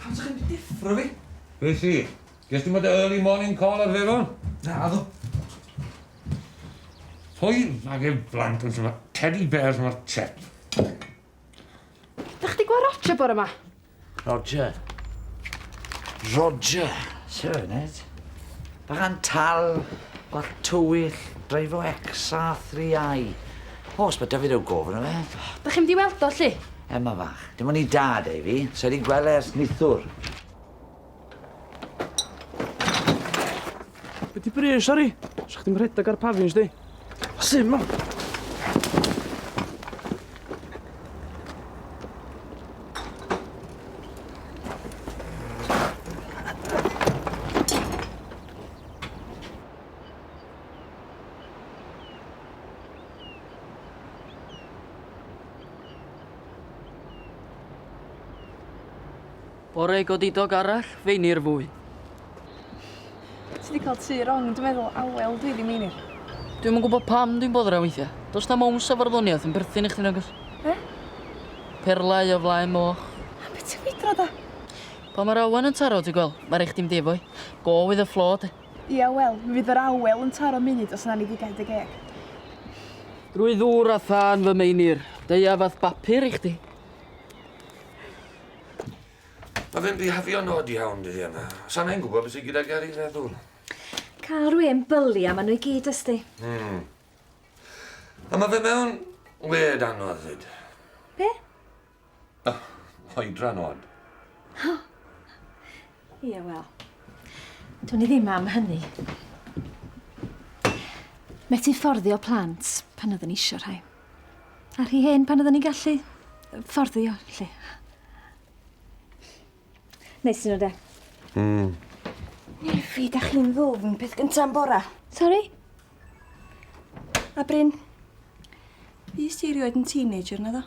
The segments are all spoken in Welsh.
Pam 'sych chi'n deffro fi? Be' sy? Ges ti'm o dy early morning call ar Feron? Naddo. Hoi ag e blant yn syma teddy bears mor chet. Dach chdi gweld Roger bore ma? Roger. Roger. Sir Ned. Bach yn tal, bach tywyll, dreifo XR3i. O, os ma' 'da fi ryw gofyn am e. Dach chi'n mynd i weld o, 'lly? Emma fach. Dim ond 'i dad ei fi. Sai 'di gwel' e ers nithwr. Be' 'di brys, sori? Sa chdi'm rhedag ar pafins di. Sut ma'... Bore godidog arall, feinir fwy. Ti wedi cael tu rong, dwi'n meddwl, awel dwi ddim meinir. Dwi'n yn gwybod pam dwi'n boddra weithiau. Does na mown sa farddoniaeth yn berthyn i chdi nagos. Be? Perlau o flaen moch. A beth ti'n fydro da? Pa mae'r awen yn taro, ti gweld? Mae rhaid chdi'n defo'i. Go with the flow, te. Ia wel, mi fydd yr awel yn taro munud os na ni gigau dy geg. Drwy ddŵr a thân fy Meinir, deia fath bapur i chdi. Mae fe'n bihafio'n od iawn dydd yma. Sa'n ein gwybod beth sydd gyda Gary feddwl. Cael rwy'n byli am nhw i gyd ysti. Hmm. A mae fe mewn led anodd fyd. Be? Ych, oedran od. O! Ie, wel. Dwn i ddim am hynny. Methu fforddio plant pan oedden ni isio rhai. A rhi hen pan oedden ni'n gallu fforddio, lle. Neis nhw de. Mm. Nefi, da chi'n ddwfn peth gynta'n bora. Sorry? A Bryn, fys ti erioed yn teenager na ddo?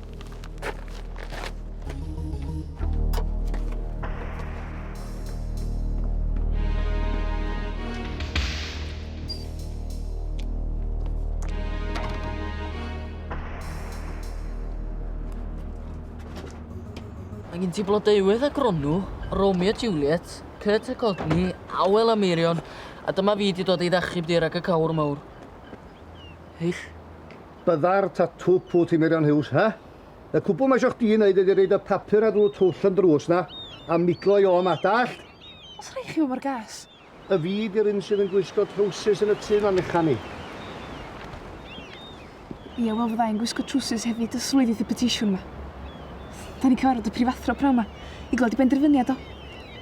Angen ti blodeuwydd a gronw, Romeo a Juliet, Kurt a Courtney, Awel a Meirion, a dyma fi di dod i ddachub di rag y cawr mawr. Heich. Byddai'r tatŵ pwt i Meirion Huws, he? Y cwbl mae isio chdi wneud ydi roid y papur ar ddrws twll yn drws 'na, a miglo i Om, a dallt? Os rhai chi fo mor ges. Y fi di'r un sydd yn gwisgo trowsus yn y tŷ 'ma, mechan i. Ie, wel fydda i'n gwisgo trowsus hefyd os roedith y petisiwn 'ma. 'Dan ni'n cyfarfod y prifathro pnawn 'ma i glywed ei benderfyniad o.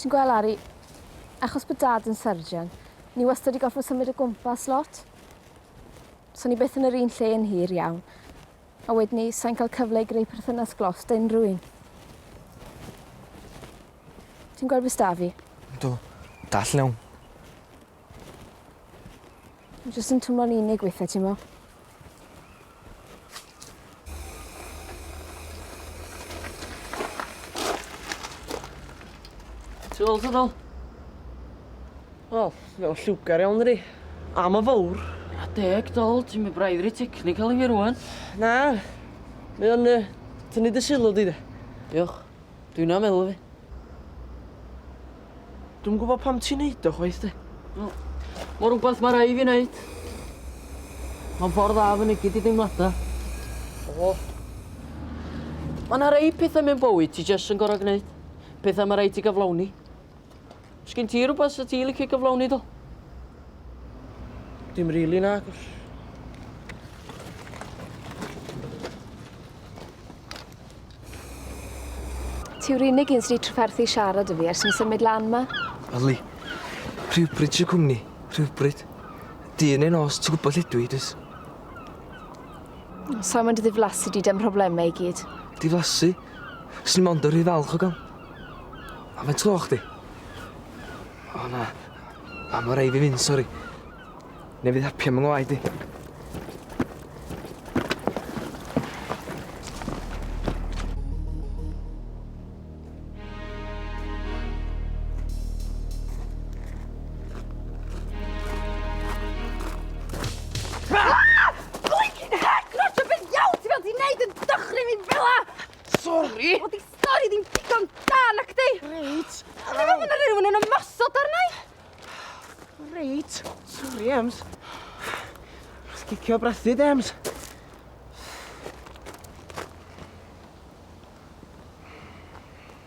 Ti'n gweld Ari, achos bod Dad yn surgeon, ni wastad wedi gorfod symud o gwmpas lot. So ni byth yn yr un lle yn hir iawn. A wedyn ni, sa'n cael cyfle i greu perthynas glos da unrhyw un. Ti'n gweld beth da fi? Yndw. Dall iawn. Dwi jyst yn twmlo'n unig weithie t'mo'? Ti weld hwnna? Wel, mae'n lliwgar iawn dydi? A ma' fowr. A deg dol, ti'n mynd braidd rhy technical i fi rŵan. Na, mae o'n yy tynnu dy sylw di de. Diolch. Dwi'n na meddwl fi. Dwi'm gwybod pam ti'n neud o chwaith de. No. Mae rhywbeth mae rai fi wneud. Mae'n ffordd dda fy nigyd i deimladau. O. Mae yna rei pethau mewn bywyd ti jyst yn gorau gwneud. Pethau mae rai ti gyflawni. Sgyn ti rhywbeth sydd ti'n licio cyflawni do? Dim rili really, na. Ti'w'r unig un sy'n trafferthu siarad y fi ers yn symud lan ma. Ali, rhywbryd sy'n cwmni, rhywbryd. Dyn ei nos, ti'n gwybod lle dwi, dys. Sa'n mynd i ddiflasu di dem problemau i gyd. Diflasu? Swn i'n mond yn rhy falch o gael. Am y tro chdi. O na. A ma' rei fi mynd, sori. Ne' fydd hapio am yng ngwaed i. Blinkin' hec Roger be' ddiawl ti fel di neud yn dychryn fi fela? Sori! Wel di stori ddim digon da, nac di? Reit. Ond ddim yn mynd rhywun yn ymosod arnau. Reit. Sori, Ems. Os gicio brathu, Ems.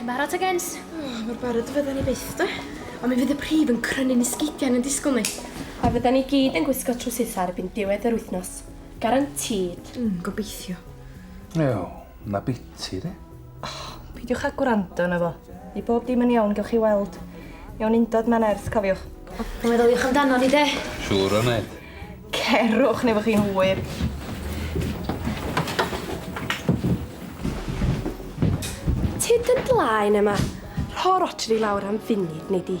Chi'n barod te gents? O, mor barod y fydden ni byth, de. Ond mi fydd y prif yn crynu'n esgidiau yn y disgwyl ni. A fydden ni gyd yn gwisgo trwsitha ar ebyn diwedd yr wythnos. Garantîd. Mm, gobeithio. Wel, na biti, de. Oh, peidiwch â gwrando yna fo. I bob dim yn iawn, gewch chi weld. Mewn undod mae'n nerth, cofiwch. Mae'n meddyliwch amdano ni, de? Siŵr o wneud. Cerwch neu fo chi'n hwyr. Ti dy blaen yma. Rho Roger i lawr am funud, neu di.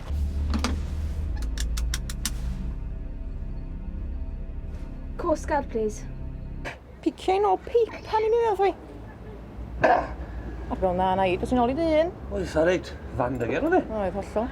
Coast Guard, please. Piciau'n ôl peip, pan i'n mynd fi. A fel na, na i, dwi'n ôl i dy un. Oedd, sa reit, fan dy gerdd i. Oedd, hollol.